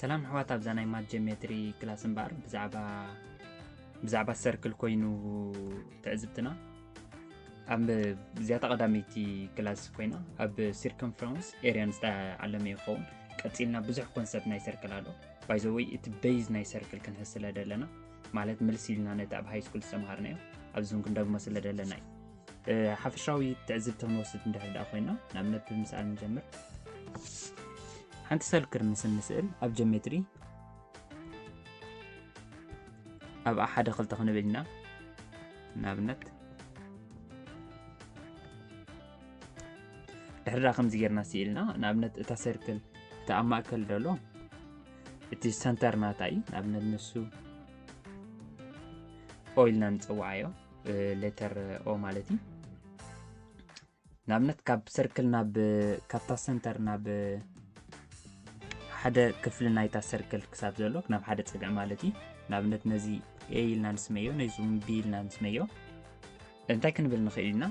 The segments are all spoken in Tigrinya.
ሰላም ኣሕዋት ኣብዛ ናይ ማት ጀሜትሪ ክላስ እምበኣር ብዛዕባ ብዛዕባ ሰርክል ኮይኑ ትዕዝብትና ኣብ እዚያታ ቀዳመይቲ ክላስ ኮይና ኣብ ሲርከምፍረንስ ኤርያን ዝተዓለመ ይኸውን ቀፂልና ብዙሕ ኮንሰፕት ናይ ሰርክል ኣሎ ባይዘወይ እቲ በይዝ ናይ ሰርክል ክንሕስለ ደለና ማለት ምልስ ኢልና ነቲ ኣብ ሃይስኩል ዝተምሃርናዮ ኣብዚ እውን ክንደግሞ ስለ ደለና እዩ ሓፈሻዊ ትዕዝብቲ ክንወስድ እንድሕር ደኣ ኮይና ንኣብነት ብምስኣል ንጀምር ሓንቲ ሰል ክርምስ እንስእል ኣብ ጀሜትሪ ኣብ ሓደ ክልተ ክንብል ኢና ንኣብነት ድሕሪ ከምዚ ጌርና ስኢልና ንኣብነት እታ ሰርክል እቲ ኣብ ማእከል ደሎ እቲ ሰንተር ናታ እዩ ንኣብነት ንሱ ኦይልና ንፅዋዓዮ ሌተር ኦ ማለት እዩ ንኣብነት ካብ ሰርክል ናብ ካብታ ሰንተር ናብ ሓደ ክፍሊ ናይታ ሰርክል ክሳብ ዘሎ ናብ ሓደ ፀግዒ ማለት እዩ ንኣብነት ነዚ ኤ ኢልና ንስመዮ ነዚ እውን ቢ ኢልና ንስመዮ እንታይ ክንብል ንኽእል ኢና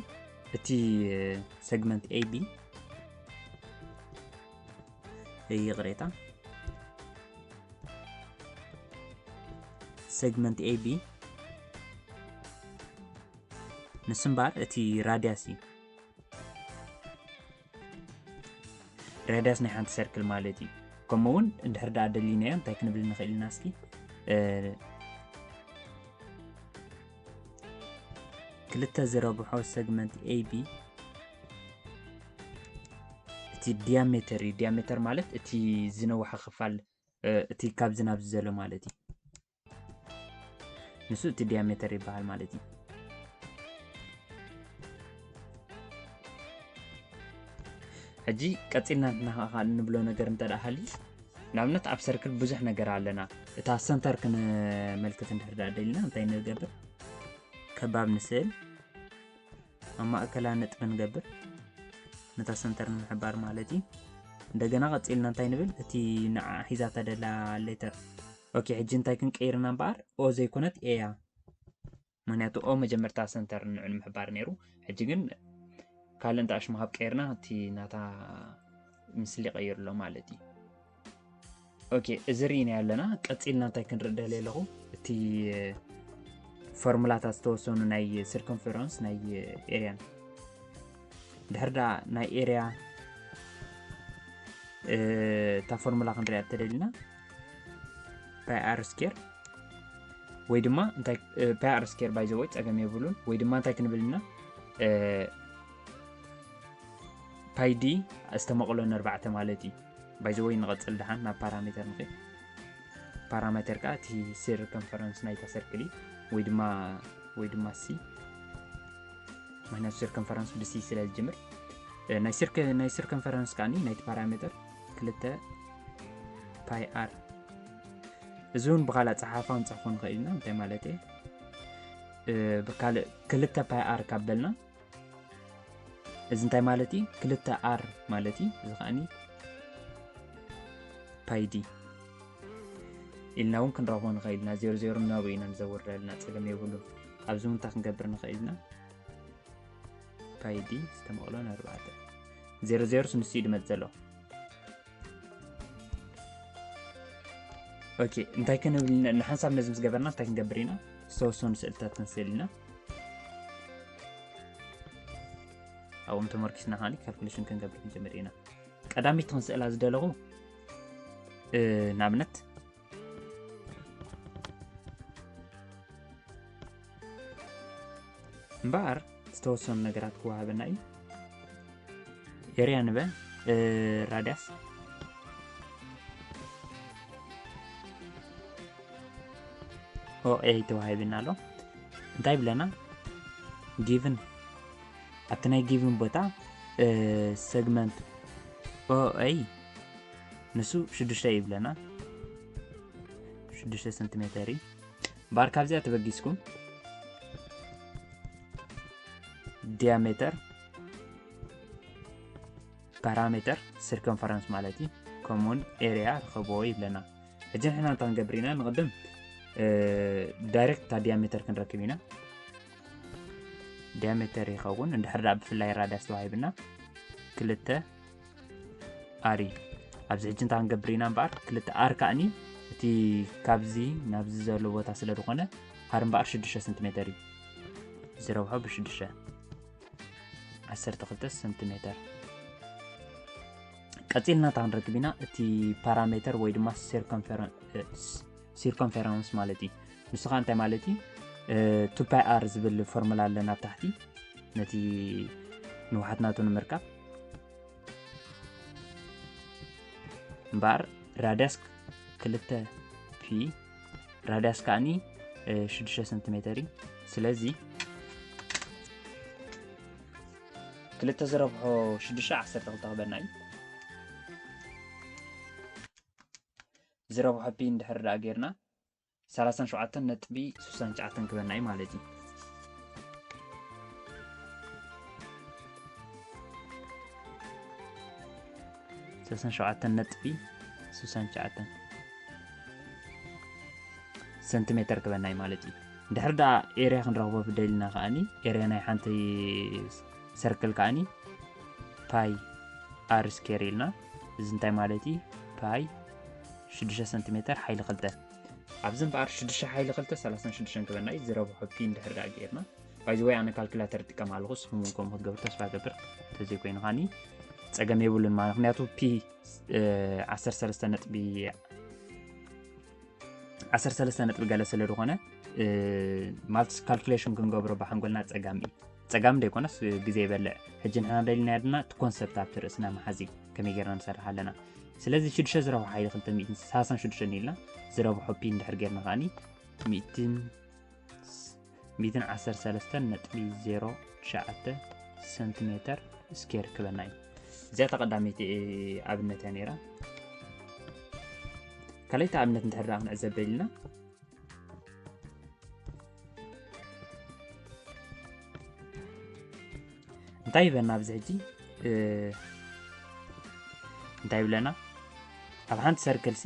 እቲ ሰግመንት ኤቢ ይቕሬታ ሴግመንት ኤቢ ንስምባር እቲ ራድያስ እዩ ራድያስ ናይ ሓንቲ ሰርክል ማለት እዩ ከምኡ እውን እንድሕር ዳኣ ደሊናዮ እንታይ ክንብል ንኽእል ኢና እስኪ ክልተ ዝረብሖ ሰግመንት ኤቢ እቲ ዲያሜተር እዩ ዲያሜተር ማለት እቲ ዝነውሐ ክፋል እቲ ካብ ዝናብ ዝዘሎ ማለት እዩ ንሱ እቲ ዲያሜተር ይበሃል ማለት እዩ ሕጂ ቀፂልና ንብሎ ነገር እንተደኣ ሃልዩ ንኣብነት ኣብ ሰርክል ብዙሕ ነገር ኣለና እታ ሰንተር ክንመልክት እንድሕርዳ ደልና እንታይ ንገብር ከባብ ንስእል ኣብ ማእከላ ነጥቢ ንገብር ነታ ሰንተር ንምሕባር ማለት እዩ እንደገና ቀፂልና እንታይ ንብል እቲ ንዓ ሒዛ ተደላ ሌተር ኦኬ ሕጂ እንታይ ክንቀይርና እምበኣር ኦ ዘይኮነት ኤያ ምክንያቱ ኦብ መጀመርታ ሰንተር ንዑ ንምሕባር ነይሩ ሕጂ ግን ካልእ እንተ ኣሽሙ ሃብ ቀይርና እቲ ናታ ምስሊ ይቀይርሎ ማለት እዩ ኦኬ እዚ ርኢናዮ ኣለና ቀፂልና እንታይ ክንርኢ ደል ኣለኹ እቲ ፎርሙላታት ዝተወሰኑ ናይ ስርከንፈረንስ ናይ ኤርያን ድሕር ዳ ናይ ኤርያ እታ ፎርሙላ ክንሪያ ተደሊና ፓይ ኣር ስኬር ወይ ድማ ፓይ ኣር ስኬር ባይ ዘወይ ፀገም የብሉን ወይ ድማ እንታይ ክንብል ኢና ፓይ ዲ ዝተመቕሎ ነርባዕተ ማለት እዩ ባይ ዘወይ ንቐፅል ድሓን ናብ ፓራሜተር ንኽእል ፓራሜተር ከዓ እቲ ስር ኮንፈረንስ ናይታ ሰርክል እዩ ወይ ድማ ወይ ድማ ሲ ምክንያቱ ስር ኮንፈረንስ ብሲ ስለ ዝጅምር ናይ ስር ኮንፈረንስ ከዓኒ ናይቲ ፓራሜተር ክልተ ፓይ ኣር እዚ እውን ብካልእ ኣፀሓፋ ንፅሕፎ ንኽእል ኢና እንታይ ማለት እየ ብካልእ ክልተ ፓይ ኣር ካብ በልና እዚ እንታይ ማለት እዩ ክልተ ኣር ማለት እዩ እዚ ከዓኒ ፓይ ዲ ኢልና እውን ክንረኽቦ ንኽእል ኢና ዜሮ ዜሮ እናበ ኢና ንዘውርደልና ፀገም የብሉን ኣብዚ ምንታይ ክንገብር ንኽእል ኢና ፓይ ዲ ዝተመቕሎ ንኣርባዕተ ዜሮ ዜሮስ ንሱ እዩ ድመፅ ዘሎ ኦኬ እንታይ ክንብል ንሓንሳብ ነዚ ምስ ገበርና እንታይ ክንገብር ኢና ዝተወሰኑ ስእልታት ክንስእል ኢና ኣብኦም ተመርኪስና ከዓኒ ካልኩሌሽን ክንገብር ክንጀምር ኢና ቀዳሚት ክንስእላ ዝደለኹ ንኣብነት እምበኣር ዝተወሰኑ ነገራት ክወሃበና እዩ ኤርያ ንበል ራዳስ ኦኤ ተዋሂብና ኣሎ እንታይ ብለና ጊቭን ኣብቲ ናይ ጊቭን ቦታ ሰግመንት ኦኤ ንሱ ሽዱሽተ ይብለና ሽዱሽተ ሰንቲሜተር እዩ ባር ካብዚኣ ተበጊስኩም ዲያሜተር ፓራሜተር ሲርከንፈረንስ ማለት እዩ ከምኡውን ኤሪያ ርኸብዎ ይብለና ሕጂ ንሕና እንታይ ክንገብር ኢና ንቕድም ዳይሬክት እታ ዲያሜተር ክንረክብ ኢና ዲያሜተር ይኸውን እንድሕር ዳኣ ብፍላይ ራዳስ ተዋሂብና ክልተ ኣሪ ኣብዚ ሕጂ እንታይ ክንገብር ኢና እምበኣር ክልተ ኣር ከዓኒ እቲ ካብዚ ናብዚ ዘሎ ቦታ ስለ ዝኾነ ኣር እምበኣር 6 ሰንቲሜተር እዩ ዝረብሖ ብሽዱሽተ ዓሰርተ ክልተ ሰንቲሜተር ቀፂልና እታ ክንረክብ ኢና እቲ ፓራሜተር ወይ ድማ ሴርከንፈረንስ ሲርኮምፌራንስ ማለት እዩ ንሱ ከ እንታይ ማለት እዩ ቱፓይኣር ዝብል ፎርሙላ ኣለና ኣብ ታሕቲ ነቲ ንውሓት ናቱ ንምርካብ እምበኣር ራድያስ ክልተ ፒ ራድያስ ከዓኒ 6 ሰንቲሜተር እዩ ስለዚ ክልተ ዝረብሖ 6 12 ክበና እዩ ዝረብሖ ፒን ድሕር ደኣ ጌርና ሰላሳን ሸውዓተን ነጥቢ ስሳን ትሽዓተን ክበና እዩ ማለት እዩ ሰላሳን ሸውዓተን ነጥቢ ስሳን ትሽዓተን ሰንቲሜተር ክበና እዩ ማለት እዩ ድሕር ደኣ ኤርያ ክንረኽቦ ብደልና ከዓኒ ኤርያ ናይ ሓንቲ ሰርክል ከዓኒ ፓይ ኣር ስኬር ኢልና እዚ እንታይ ማለት እዩ ፓይ 6 ሰንቲሜተር ሓይሊ ክልተ ኣብዚ እምበኣር 6 ሓይሊ ክልተ 36 ክበና እዩ ዝረብሖ ፒ እንድሕር ዳኣ ጌርና ባይዘወይ ኣነ ካልኩላተር ጥቀም ኣለኹ ንስኹም እውን ከምኡ ክትገብር ተስፋ ገብር እንተዘይኮይኑ ከኒ ፀገም የብሉን ማለት ምክንያቱ ፒ 13 ነጥቢ ዓሰርተ ሰለስተ ነጥቢ ገለ ስለ ዝኾነ ማለት ካልኩሌሽን ክንገብሮ ብሓንጎልና ፀጋም እዩ ፀጋም ደይኮነስ ግዜ ይበልዕ ሕጂ ንሕና ደሊናዮ ድማ እቲ ኮንሰፕት ኣብቲ ርእስና መሓዚ ከመይ ጌርና ንሰርሕ ኣለና ስለዚ ሽዱሽተ ዝረብሖ ሓይሊ ክልተ ሚእትን ሰላሳን ሽዱሽተን ኢልና ዝረብሖ ፒን ድሕር ጌርና ከዓኒ ሚእትን 113.09 ሰንቲሜተር ስኬር ክበና እዩ እዚኣ ተቐዳሚቲ ኣብነት እያ ነራ ካልይቲ ኣብነት እንድሕር ዳ ክንዕዘብ ደልና እንታይ ይበና ኣብዚ ሕጂ እንታይ ይብለና ኣብ ሓንቲ ሰርክልሲ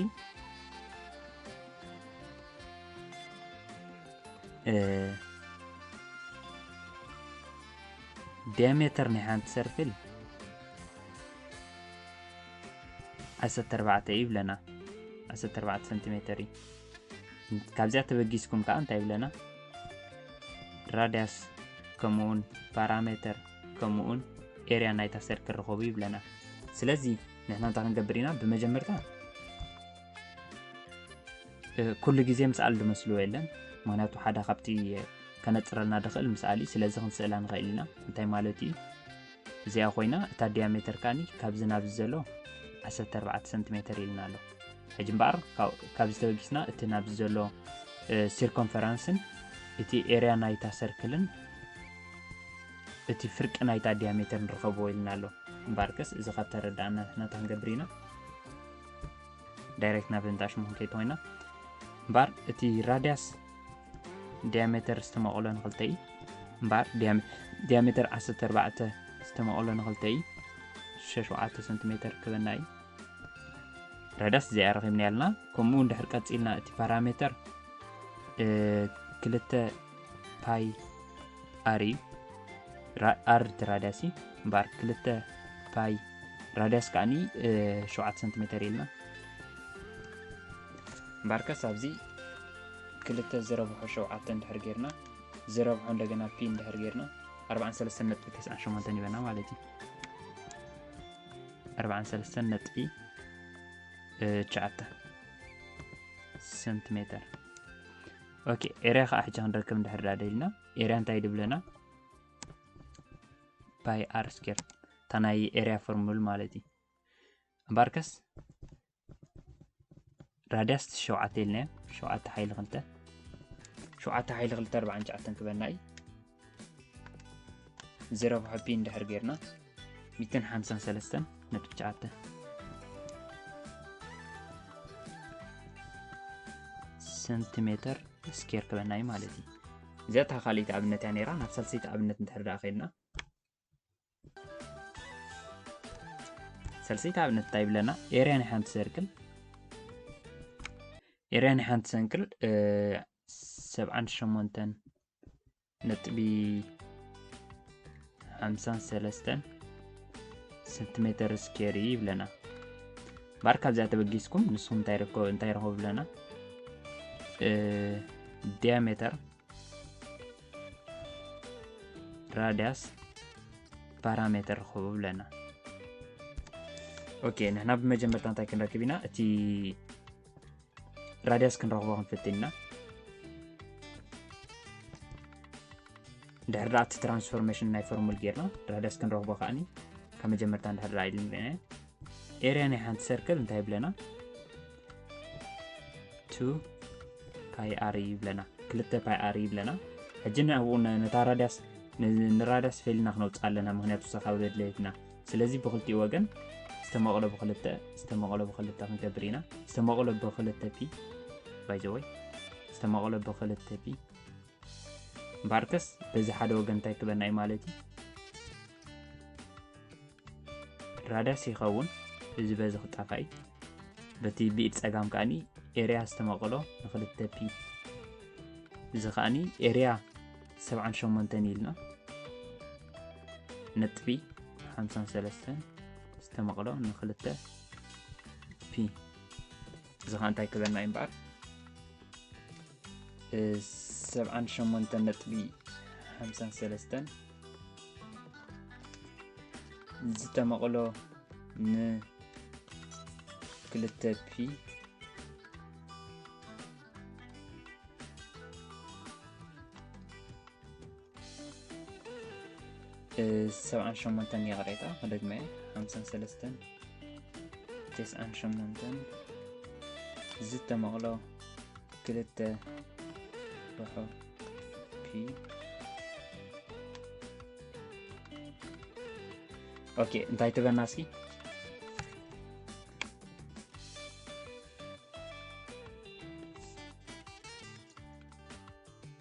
ዲያሜተር ናይ ሓንቲ ሰርክል ዓሰርተ ኣርባዕተ እዩ ይብለና ዓሰርተ ኣርባዕተ ሰንቲሜተር እዩ ካብዚኣ ተበጊስኩም ከዓ እንታይ ይብለና ራዳያስ ከምኡውን ፓራሜተር ከምኡውን ኤርያ ናይታ ሰርክል ርኸቡ ይብለና ስለዚ ንሕና እንታይ ክንገብር ኢና ብመጀመርታ ኩሉ ግዜ ምስኣል ድመስልዎ የለን ምክንያቱ ሓደ ካብቲ ከነፅረልና ድኽእል ምስኣል እዩ ስለዚ ክንስእላ ንኽእል ኢና እንታይ ማለት እዩ እዚኣ ኮይና እታ ዲያሜተር ካኒ ካብዚ ናብዚ ዘሎ 14 ሰንቲሜተር ኢልና ኣሎ ሕጂ እምበኣር ካብ ዝተበጊስና እቲ ናብዚ ዘሎ ሲርኮንፈራንስን እቲ ኤርያ ናይታ ሰርክልን እቲ ፍርቂ ናይታ ዲያሜተር ንረኸብዎ ኢልና ኣሎ እምበኣርከስ እዚ ካብ ተረዳእና ንሕና ክንገብር ኢና ዳይሬክት ናብ እንዳ ሽሞን ከይተወይና እምበር እቲ ራድያስ ዲያሜተር ዝተመቐሎ ንክልተ እዩ እምበር ዲያሜተር 14 ዝተመቐሎ ንክልተ እዩ 67 ሰንቲሜተር ክበና እዩ ራዳስ እዚኣ ረኺብና ያልና ከምኡ እውን ድሕር ቀፂልና እቲ ፓራሜተር ክልተ ፓይ ኣር እዩ ኣር ራዳሲ እምበኣር ክልተ ፓይ ራዳስ ከዓኒ ሸውዓተ ሰንቲሜተር ኢልና እምበኣርከስ ኣብዚ ክልተ ዝረብሖ ሸውዓተ እንድሕር ጌርና ዝረብሖ እንደገና ፒ እንድሕር ጌርና 43 ነጥቢ 98 ይበና ማለት እዩ 43 ነጥቢ ሸዓተ ሰንቲሜተር ኦኬ ኤርያ ከዓ ሕጂ ክንረክብ እንድሕር ዳ ደልና ኤርያ እንታይ ድብለና ባይ ኣር ስኬር እታ ናይ ኤርያ ፎርሙል ማለት እዩ እምበኣርከስ ራድያስ ሸውዓተ ኢልናዮ ሸውዓተ ሓይሊ ክልተ ሸውዓተ ሓይሊ ክልተ ኣርባዓን ሸዓተን ክበና እዩ ዜሮ ብሕፒ እንድሕር ጌርና ሚትን ሓምሳን ሰለስተን ነጥቢ ትሽዓተ ሰንቲሜተር ስኬር ክበና እዩ ማለት እዩ እዚኣ እታ ካልኣይቲ ኣብነት እያ ነይራ ናብ ሳልሰይቲ ኣብነት እንድሕር ደኣ ከይድና ሰልሰይቲ ኣብነት እንታይ ይብለና ኤርያ ናይ ሓንቲ ሰርክል ኤርያ ናይ ሓንቲ ሰንክል ሰብዓን ሸሞንተን ነጥቢ ሓምሳን ሰለስተን ሰንቲሜተር ስኬር እዩ ይብለና ባር ካብዚኣ ተበጊስኩም ንስኹም እንታይ ረኸቡ ብለና ዲያሜተር ራድያስ ፓራሜተር ርኸቡ ብለና ኦኬ ንሕና ብመጀመርታ እንታይ ክንረክብ ኢና እቲ ራድያስ ክንረኽቦ ክንፍትን ኢና ድሕሪ እቲ ትራንስፎርሜሽን ናይ ፎርሙል ጌርና ራድያስ ክንረኽቦ ከዓኒ ካብ መጀመርታ እንድሕር ኢሉ ኤርያ ናይ ሓንቲ ሰርክል እንታይ ይብለና ቱ ፓይ ኣር ይብለና ክልተ ፓይ ኣር ይብለና ሕጂ ንኣብኡ ነታ ራዳስ ንራዳስ ፌልና ክነውፅእ ኣለና ምክንያቱ ሰካብ ዘድለየትና ስለዚ ብክልቲኡ ወገን ዝተመቕሎ ብክልተ ዝተመቕሎ ብክልተ ክንገብር ኢና ዝተመቕሎ ብክልተ ፒ ባይዘወይ ዝተመቕሎ ብክልተ ፒ እምበኣርከስ በዚ ሓደ ወገን እንታይ ክበና እዩ ማለት እዩ ራዳስ ይኸውን እዚ በዚ ክጣፋኢ በቲ ብኢድ ጸጋም ከኣኒ ኤርያ ዝተመቕሎ ንክልተ ፒ እዚ ከኣኒ ኤርያ 78 ኢልና ነጥቢ 53 ዝተመቕሎ ንክልተ ፒ እዚ ከ እንታይ ክበና እዩ እምበኣር ሰብዓን ሸሞንተን ነጥቢ ሓምሳን ሰለስተን ዝተመቕሎ ንክልተ ፒ ሰብዓን ሸሞንተን ይቕሬታ ክደግመ እየ ሓምሳን ሰለስተን ተስዓን ሸሞንተን ዝተመቕሎ ክልተ ርሖ ፒ ኦኬ እንታይ ትበና እስኪ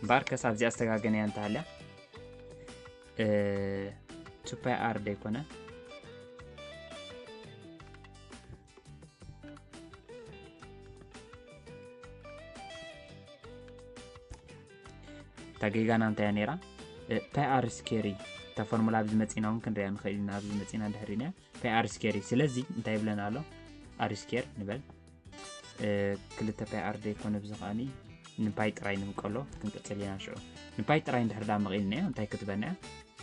እምበኣር ከሳብ እዚኣ ዝተጋገነ እያ እንተሃልያ ቱፓይ ኣር ደይኮነ እታ ጌጋና እንታያ ነይራ ፓይ ኣር ስኬሪ እታ ፎርሙላ ኣብዚ መፂና እውን ክንሪያ ንኽእል ኢና ኣብዚ መፂና ድሕሪና እያ ፓይ ኣር ስኬር እዩ ስለዚ እንታይ ይብለና ኣሎ ኣር ስኬር ንበል ክልተ ፓይ ኣር ዘይኮነ ብዚ ከዓኒ ንፓይ ጥራይ ንምቀሎ ክንቅፅል ኢና ሽዑ ንፓይ ጥራይ እንድሕር ዳ መቒልና እዮ እንታይ ክትበና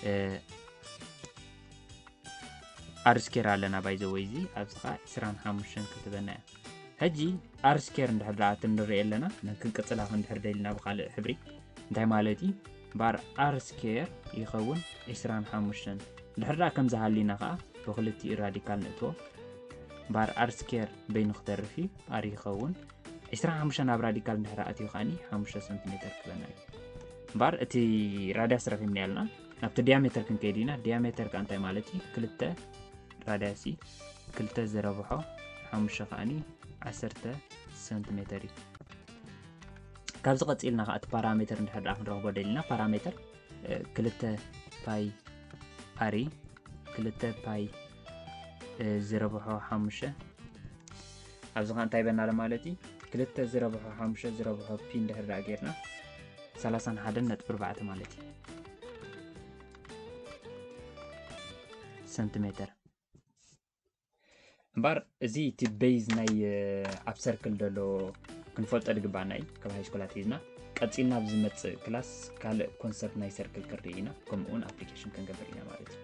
እያ ኣር ስኬር ኣለና ባይዘወይ እዚ ኣብዚ ከዓ 25 ክትበና እያ ሕጂ ኣር ስኬር እንድሕር ዳ እቲ ንሪኦ ኣለና ክንቅፅላ ክንድሕር ደልና ብካልእ ሕብሪ እንታይ ማለት እዩ ባር ኣርስ ኬር ይኸውን ዒስራን ሓሙሽተን። ድሕሪ ደኣ ከምዚ ሃሊና ከኣ ብክልቲኡ ራዲካል ንእትዎ። ባር ኣርስ ኬር በይኑ ክተርፍ እዩ፣ ኣር ይኸውን። ዒስራን ሓሙሽተን ኣብ ራዲካል ድሕሪ ኣትዩ ከኣኒ ሓሙሽተ ሰንቲሜተር ክበና እዩ። ባር እቲ ራድያስ ረኺብና ያልና ናብቲ ዲያሜተር ክንከይድ ኢና። ዲያሜተር ከኣ እንታይ ማለት እዩ? ክልተ ራድያስ እዩ። ክልተ ዝረብሖ ሓሙሽተ ከኣኒ ዓሰርተ ሰንቲሜተር እዩ። ካብዚ ቀፂልና ከዓ እቲ ፓራሜተር እንድሕር ድኣ ክንረኽቦ ደሊና ፓራሜተር ክልተ ፓይ ኣሪ ክልተ ፓይ ዝረብሖ ሓሙሽተ ኣብዚ ከዓ እንታይ በናለ ማለት እዩ ክልተ ዝረብሖ ሓሙሽተ ዝረብሖ ፒ እንድሕር ድኣ ጌርና ሰላሳን ሓደን ነጥቢ ኣርባዕተ ማለት እዩ ሰንቲሜተር እምበር እዚ እቲ ቤዝ ናይ ኣብ ሰርክል ዘሎ ክንፈልጦ ዝግባኣና እዩ ካብ ሃይስኮላት ሒዝና ቀፂልና ኣብ ዝመፅእ ክላስ ካልእ ኮንሰርት ናይ ሰርክል ክንርኢ ኢና ከምኡ እውን ኣፕሊኬሽን ክንገብር ኢና ማለት እዩ